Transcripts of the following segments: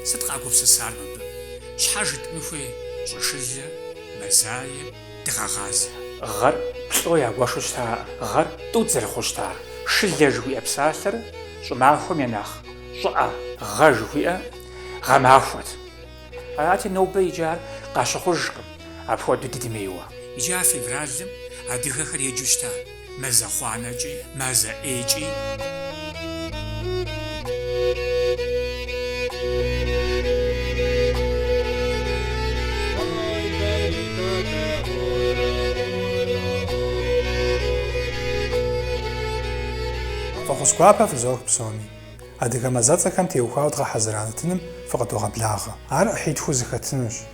Сыт къагупсысар мыбы? Щхьэ жытӏын хуей, щӏышылэ, мазае, дыгъэгъазэ? Гъэр плӏыуэ ягуэшу щыта гъэр тӏут зэрыхъуу щытар. Шылэ жыхуиӏэ псалъэр щӏымахуэм я нэхъ щӏыӏэ гъэ жыхуиӏэ гъэмахуэт. Арати, нобэ иджы ар къащыхъужкъым апхуэдэу дыдмейуэ. Иджы а февралым адыгэхэр еджэу щыта? Мазэ хъуанэкӏи, мазэ ӏейкӏи. Фӏэхъус гуапэ фызох псоми. Адыгэ мазэцӏэхэм теухуауэ дгъэхьэзыра нэтыным фыкъыдогъэблагъэ. Ар ӏыхьитхуу зыхэтынущ.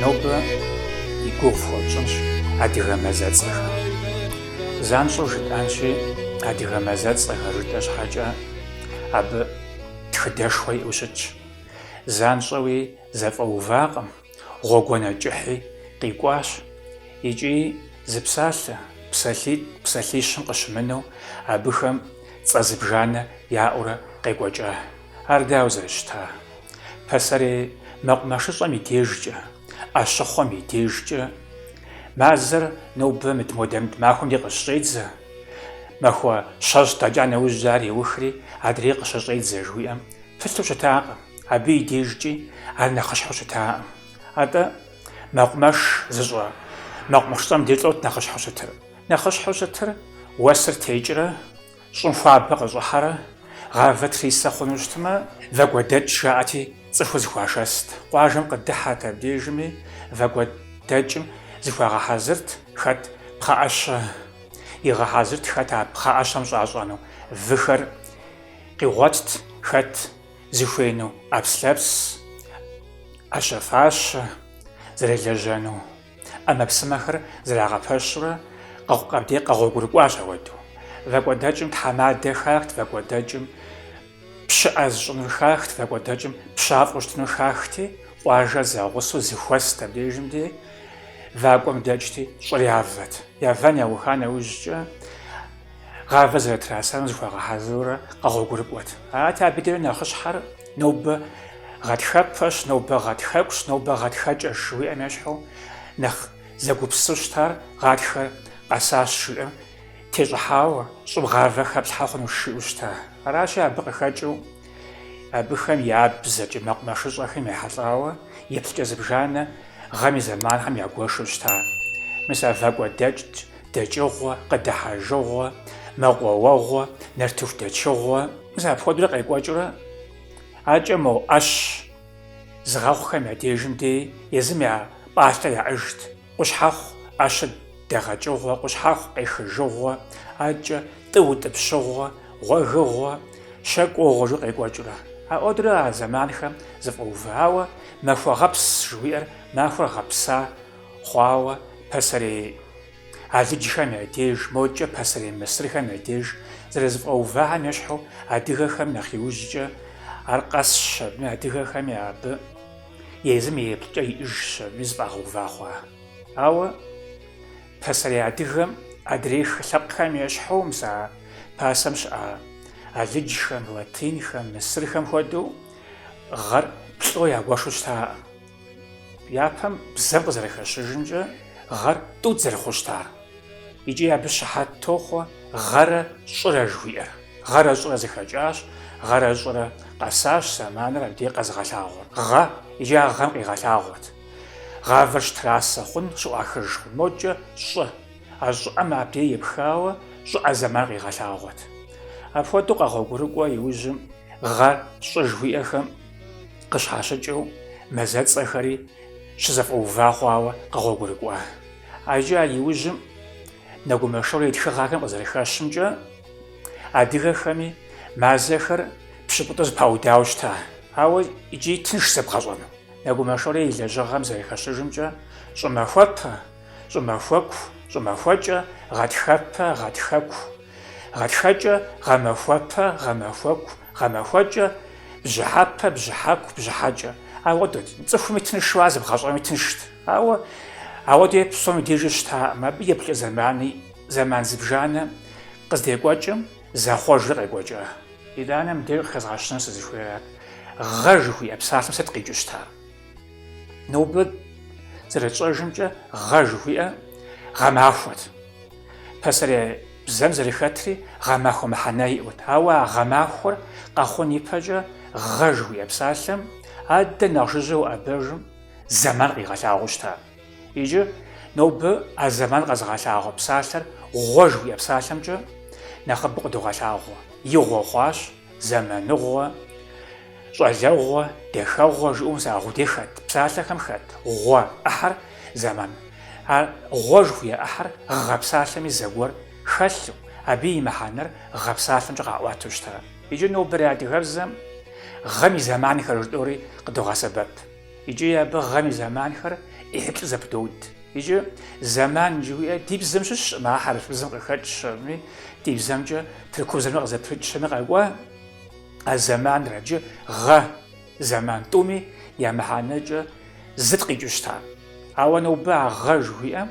Нобэ и гугъу фхуэтщӏынщ адыгэ мазэцӏэхэр. Занщӏэу жытӏэнщи, адыгэ мазэцӏэхэр жытӏэ щхьэкӏэ, абы тхыдэшхуэ иӏэу щытщ. Занщӏэуи зэфӏэувакъым. Гъуэгуанэ кӏыхьи къикӏуащ икӏи зы псалъэ, псалъитӏ, псалъищым къыщымынэу абыхэм цӏэ зыбжанэ яӏэурэ къекӏуэкӏа. Ар дауэ зэрыщыта? Пасэрей мэкъумэшыщӏэм и дежкӏэ, ӏэщыхъуэм и дежкӏэ мазэр нобэ мыдмодэмыд махуэм дей къыщыщӏедзэ, махуэ щэщӏ дэкӏа нэужькӏэ ар еухри адрей къыщыщӏедзэ жыхуиӏэм пылъу щытакъым. Абы и дежкӏи ар нэхъыщхьэу щытаӏым. Атӏэ, мэкъумэш зыщӏэ мэкъумэшыщӏэм дей лӏэут нэхъыщхьэу щытыр. Нэхъыщхьэу щытыр уэсыр текӏрэ щӏым хуабэ къыщӏыхьэрэ гъавэ трисэ хъуну щытмэ, вакӏуэдэкӏ жаӏэти, цӏыхур зыхуашэст. Къуажэм къыдыхьэрт абдежми, вакӏуэдэкӏым зыхуагъэхьэзырт хэт пхъэӏэщэ игъэхьэзырт хэт а пхъэӏэщэм щӏащӏэну выхэр къигъуэтт хэт. Зыхуейну ӏэпс-лъэпс, ӏэщэ-фащэ зэрелэжьэну, ӏэмэпсымэхэр зэрагъэпэщурэ къэхъу абдей къэгъуэгурыкӏуащ ауэдэу. Вакӏуэдэкӏым тхьэмадэ хахт, вакӏуэдэкӏым пщыӏэ зыщӏынур хахт, вакӏуэдэкӏым пщафӏэу щытынур хахти, къуажэр зэгъусэу зыхуэст абдежым дей вакӏуэм дэкӏти, щӏыр явэт. Явэн яуха нэужькӏэ, Гъавэ зэрытрасэным зыхуагъэхьэзырурэ къэгъуэгурыкӏуэт. Арати, абдей нэхъыщхьэр нобэ гъатхэпэщ, нобэ гъатхэкущ, нобэ гъатхэкӏэщ жыуиӏэм ещхьу нэхъ зэгупсысу щытар гъатхэр къэсащ жиӏэм тещӏыхьауэ, щӏым гъавэ хэплъхьэ хъунущ жиӏэу щыта. Аращи, абы къыхэкӏыу абыхэм я бзэкӏэ мэкъумэшыщӏэхэм ехьэлӏауэ еплъыкӏэ зыбжанэ гъэм и зэманхэм ягуэшу щыта. Мис а вакӏуэдэкӏт. Дэкӏыгъуэ, къыдыхьэжыгъуэ, мэкъуэуэгъуэ, нартыху дэчыгъуэ. Мис апхуэдэурэ къекӏуэкӏыурэ адкӏэ мо ӏэщ зыгъэхъухэм я дежым дей езым я пӏалъэ яӏэжт, къущхьэхъу ӏэщ дэгъэкӏыгъуэ, къущхьэхъу къехыжыгъуэ, адкӏэ тӏы утӏыпщыгъуэ, гъуэгыгъуэ, щэкӏуэгъуэ жаӏэу къекӏуэкӏыурэ. Апхуэдэурэ а зэманхэм зэфӏэувауэ махуэгъэпс жыуиӏэр махуэр гъэпса, Хъуауэ пасэрей алыджхэм я деж, модкӏэ пасэрей мысырхэм я деж зэрызэфӏэувахэм ещхьу адыгэхэм нэхъ иужькӏэ ар къэсщ, абыми адыгэхэми абы езым и еплъыкӏэ иӏэжщ, абы зэфӏагъэува хъуа. Ауэ пасэрей адыгэм адрей лъэпкъхэм ещхьу мис а пасэм щыӏа алыджхэм, латынхэм, мысырхэм хуэдэу гъэр плӏыуэ ягуэшу щытаӏым. Япэм бзэм къызэрэхэщыжымкӏэ гъэр тӏут зэрыхъуу щытар. Икӏи абы щыхьэт тохъуэ гъэрэ щӏырэ жыхуиӏэр. Гъэрэ щӏырэ зэхэкӏащ, гъэрэ щӏырэ къэсащ, зэманыр абдей къэзыгъэлъагъуэр. Гъэ икӏи а гъэм къигъэлъагъуэрт. Гъавэр щытрасэ хъун щыӏуахыж хъун модкӏэ щӏы. А щӏыӏэм абдей епхауэ щӏыӏэ зэман къигъэлъагъуэрт. Апхуэдэу къэгъуэгурыкӏуэ иужьым гъэ, щӏы жыхуиӏэхэм. къыщхьэщыкӏыу мазэцӏэхэри щызэфӏэува хъуауэ къэгъуэгурыкӏуа. Адкӏэ а иужьым Нэгумэ Шорэ и тхыгъэхэм къызэрыхэщымкӏэ, адыгэхэми мазэхэр пщыкӏутӏу зэпаудауэ щыта, ауэ икӏи тыншщ зэбгъэщӏэну. Нэгумэ Шорэ и лэжьыгъэм зэрыхэщыжымкӏэ, щӏымахуэпэ, щӏымахуэку, щӏымахуэкӏэ, гъатхэпэ, гъатхэку, гъатхэкӏэ, гъэмахуэпэ, гъэмахуэку, Гъэмахуэкӏэ, бжьыхьэпэ, бжьыхьэку, бжьыхьэкӏэ. Апхуэдэут. Цӏыхуми тыншщ, а зэбгъэщӏэми тыншт. Ауэ апхуэдэу псоми дежи щытакъым. Абы еплъ зэмани, зэман зыбжанэ къыздекӏуэкӏым, зэхъуэжурэ къекӏуэкӏа. Итӏанэ мыбдеж къыхэзгъэщыну сызыхуейрат. Гъэ жыхуиӏэ псалъэм сыт къикӏыу щытар? Нобэ зэрытщӏэжымкӏэ гъэ жыхуиӏэр гъэмахуэт. Пасэрей бзэм зэрыхэтри гъэмахуэ мыхьэнэ иӏэут, ауэ а гъэмахуэр къэхъун ипэкӏэ гъэ жыхуиӏэ псалъэм адэ нэхъ жыжьэу уӏэбэжым зэман къигъэлъагъуу щыта. Иджы нобэ а зэман къэзыгъэлъагъуэ псалъэр гъуэ жыхуиӏэ псалъэмкӏэ нэхъыбэу къыдогъэлъагъуэ, игъуэ хъуащ, зэманыгъуэ, Щӏалэгъуэ, дахэгъуэ жыӏэу мис апхуэдэ хэт, псалъэхэм хэт, гъуэ, ӏыхьэр, зэман. Ар гъуэ жыхуиӏэ ӏыхьэр гъэ псалъэми зэгуэр хэлъу, абы и мыхьэнэр гъэ псалъэмкӏэ къаӏуатэу щытэрэ. Иджы нобэрей адыгэбзэм гъэм и зэманхэр жытӏэури къыдогъэсэбэп. Икӏи абы гъэм и зэманхэр ӏыхьиплӏу зэпыдоуд. Иджы зэман жыхуиӏэр ди бзэм щыщкъым, а хьэрыпыбзэм къыхэкӏщэми, ди бзэмкӏэ тыркубзэм къызэпрыкӏщэми къэкӏуа. А зэманрэ джы гъэ зэман тӏуми я мыхьэнэкӏэ зыт къикӏыу щыта. Ауэ нобэ а гъэ жыхуиӏэм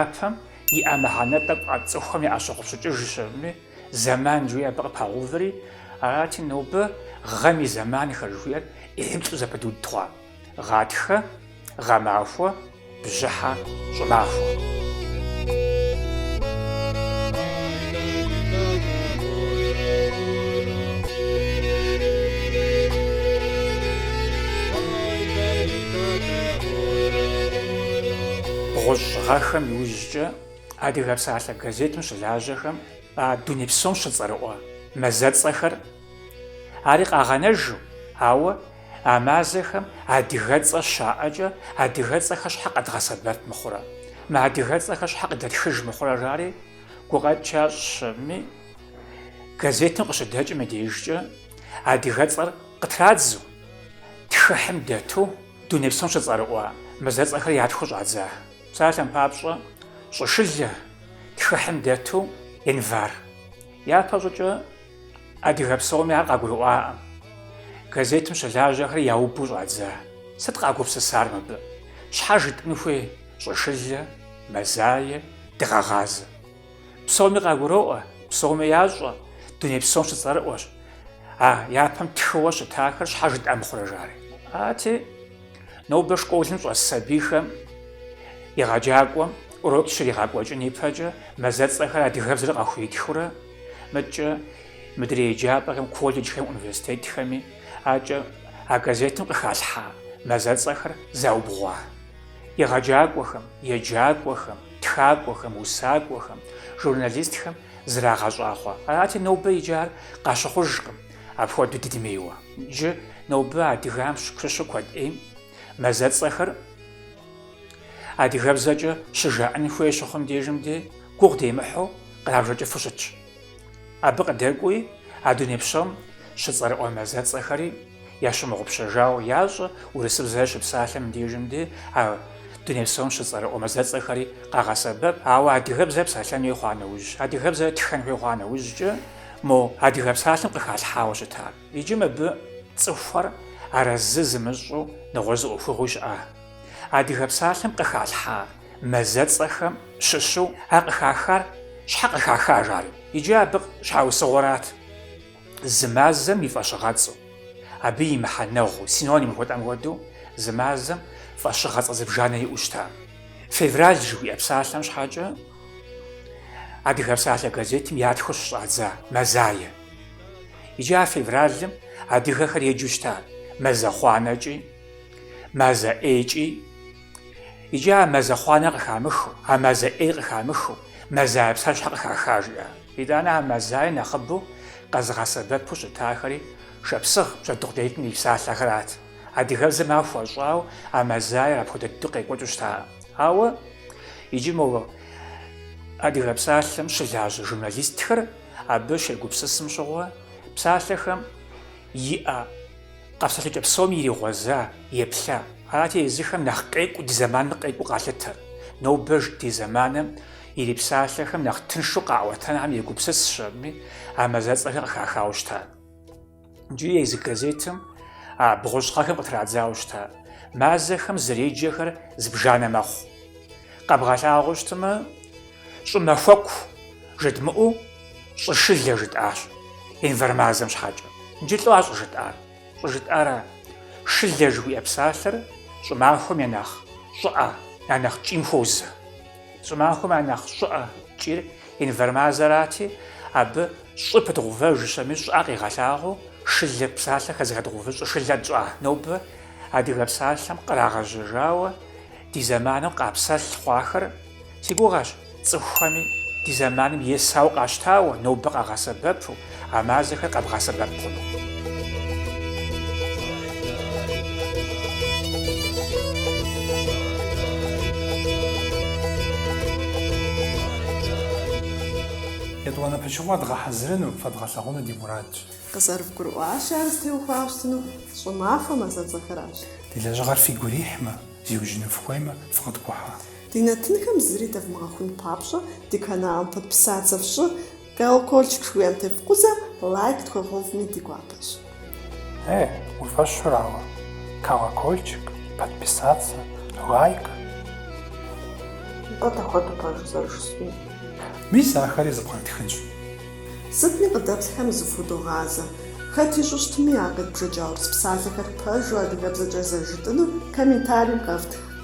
япэм иӏа мыхьэнэр тӏэкӏу а цӏыхухэм яӏэщӏэгъупщыкӏыжщэми, зэман жиӏэри абы къыпагъэувэри, арати нобэ гъэм и зэманхэр жыхуиӏэр ӏыхьиплӏу зэпыдуд хъуа. Гъатхэ, гъэмахуэ, бжьыхьэ, щӏымахуэ. Бгъущӏ гъэхэм иужькӏэ Адыгэ псалъэ газетым щылажьэхэм а дуней псом щыцӏэрыӏуэ мазэцӏэхэр ари къагъэнэжу, ауэ А мазэхэм адыгэцӏэ щаӏэкӏэ адыгэцӏэхэр щхьэ къэдгъэсэбэп мыхъурэ, мы адыгэцӏэхэр щхьэ къыдэтхыж мыхъурэ жари гукъэкӏ ящӏщэми, газетым къыщыдэкӏым и дежкӏэ адыгэцӏэр къытрадзу, тхыхьым дэту дуней псом щыцӏэрыӏуэ мазэцӏэхэр ятхыу щӏадзах. Псалъэм папщӏэ, щӏышылэ, тхыхьым дэту январь япэ щӏыкӏэ, Адыгэ псоми ар къагурыӏуаӏым. Газетым щылажьэхэр яубу щӏадза. Сыт къагупсысар мыбы? Щхьэ жытӏын хуей, щӏышылэ, мазае, дыгъэгъазэ? Псоми къагуроӏуэ, псоми ящӏэ, дуней псом щыцӏэрыӏуэщ. А япэм тхыуэ щытахэр щхьэ жытӏэ мыхъурэ жари? Арати, нобэ школым щӏэс сабийхэм егъэджакӏуэм урок щригъэкӏуэкӏын ипэкӏэ мазэцӏэхэр адыгэбзэр къахуитхыурэ, Мыдкӏэ мыдрей еджапӏэхэм, колледжхэм, университетхэми акӏэ а газетым къыхалъхьа мазэцӏэхэр заубгъуа. Егъэджакӏуэхэм, еджакӏуэхэм, тхакӏуэхэм, усакӏуэхэм, журналистхэм зрагъэщӏа хъуа. Арати, нобэ иджы ар къащыхъужкъым апхуэдэу дыдмейуэ. Иджы нобэ адыгэм щыщу куэд ӏейм мазэцӏэхэр адыгэбзэкӏэ щыжаӏэн хуей щыхъум дежым де, гугъу демыхьу кърабжэкӏыфу щытщ. Абы къыдэкӏуи а дуней псом щыцӏэрыӏуэ мазэцӏэхэри ящымыгъупщэжауэ ящӏэ, урысыбзэри щыпсалъэм дежым ди а дуней псом щыцӏэрыӏуэ мазэцӏэхэри къагъэсэбэп. Ауэ адыгэбзэр псалъэн хуей хъуа нэужь, адыгэбзэр тхэн хуей хъуа нэужькӏэ мо адыгэ псалъэм къыхалъхьауэ щытар. Иджы мыбы цӏыхухэр арэзы зымыщӏу нэгъуэщӏ зы ӏуэхугъуи щыӏа адыгэ псалъэм къыхалъхьа? Мазэцӏэхэм щыщу ар къыхахар щхьэ къыхаха, жари? Иджы абы щхьэусыгъуэрат зы мазэм и фӏэщыгъэцӏэу, абы и мыхьэнэгъуу, синоним жыхуэтӏэм хуэдэу зы мазэм фӏэщыгъэцӏэ зыбжанэ иӏэу щыта. Февраль жыхуиӏэ псалъэм щхьэкӏэ Адыгэ псалъэ газетым ятхыу щыщӏадза Мазае. Иджы а февралым адыгэхэр еджэу щыта Мазэхъуанэкӏи, Мазэ ӏейкӏи. Иджы а мазэ хъуанэр къыхамыхыу, а мазэ ӏей къыхамыхыу, мазае псалъэр щхьэ къыхаха, жиӏэ. Итӏанэ а мазае нэхъыбэу къэзыгъэсэбэпу щытахэри шапсыгъ бжьэдыгъу диалектым и псалъэхэрат. Адыгэбзэм ар хуэщӏауэ а мазаер апхуэдэ дыдэу къекӏуэкӏыу щытакъым. Ауэ иджы мо Адыгэ псалъэм щылажьэ журналистхэр абы щегупсысым щыгъуэ, псалъэхэм иӏэ, Къэпсэлъыкӏэ псоми иригъуэза, еплъа. Арати езыхэм нэхъ къекӏуу ди зэманым къекӏуу къалъытэр. Нобэ ди зэманым ирипсалъэхэм нэхъ тыншу къаӏуэтэнхэм егупсысщ абыми а мазэцӏэхэр къыхахауэ щытар. Икӏи езы газетым а бгъущхъэхэм къытрадзауэ щыта мазэхэм зэреджэхэр зыбжанэ мэхъу. Къэбгъэлъагъуэу щытмэ, Щӏымахуэку жытмыӏэу щӏышылэ жытӏащ январь мазэм щхьэкӏэ. Иджы лӏо ар щӏыжытӏар. Щӏыжытӏара? Шылэ жыхуиӏэ псалъэр щӏымахуэм я нэхъ щӏыӏэ, я нэхъ ткӏийм хуозэ. Щӏымахуэм я нэхъ щӏыӏэ ткӏийр январь мазэрати, абы щӏы пыдгъувэжыщэми щӏыӏэ къигъэлъагъуэу шылэ псалъэхэр зэхэдгъувэри щӏышылэ тщӏа? Нобэ адыгэ псалъэм кърагъэжьэжауэ ди зэманым къапсэлъ хъуахэр Си гугъэщ цӏыхухэми ди зэманым есауэ къащтауэ, нобэ къагъэсэбэпу, а мазэхэр къэбгъэсэбэп хъуну. Етӏуанэ пычыгъуэ дгъэхьэзырыну, фэдгъэлъагъуну ди мурадщ. Къызэрывгурыӏуащи, ар зытеухуауэ щытынур щӏымахуэ мазэцӏэхэращ. Ди лэжьыгъэр фигу ирихьмэ, зиужьыну фыхуеймэ, фыкъыдгухьэ. Ди нэтынхэм зыри дэвмыгъэхун папщӏэ, ди каналым подписаться фщӏы, Колокольчик жыхуиӏэм тефкъузэ, лайк тхуевгъэувми ди гуапэщ. Э, уфӏэщу арауэ, Колокольчик, подписаться, лайк? Нтӏэ дэ хуэдэу пэжу зэрыжысӏум. Мис ахэри зэбгъэтхынщ. Сытми къыдэплъхэм зыфхудогъазэ. Хэт ищӏу щытми а къедбжэкӏа урыс псалъэхэр пэжу адыгэбзэкӏэ зэрыжытӏынур комментарийм къэфтх.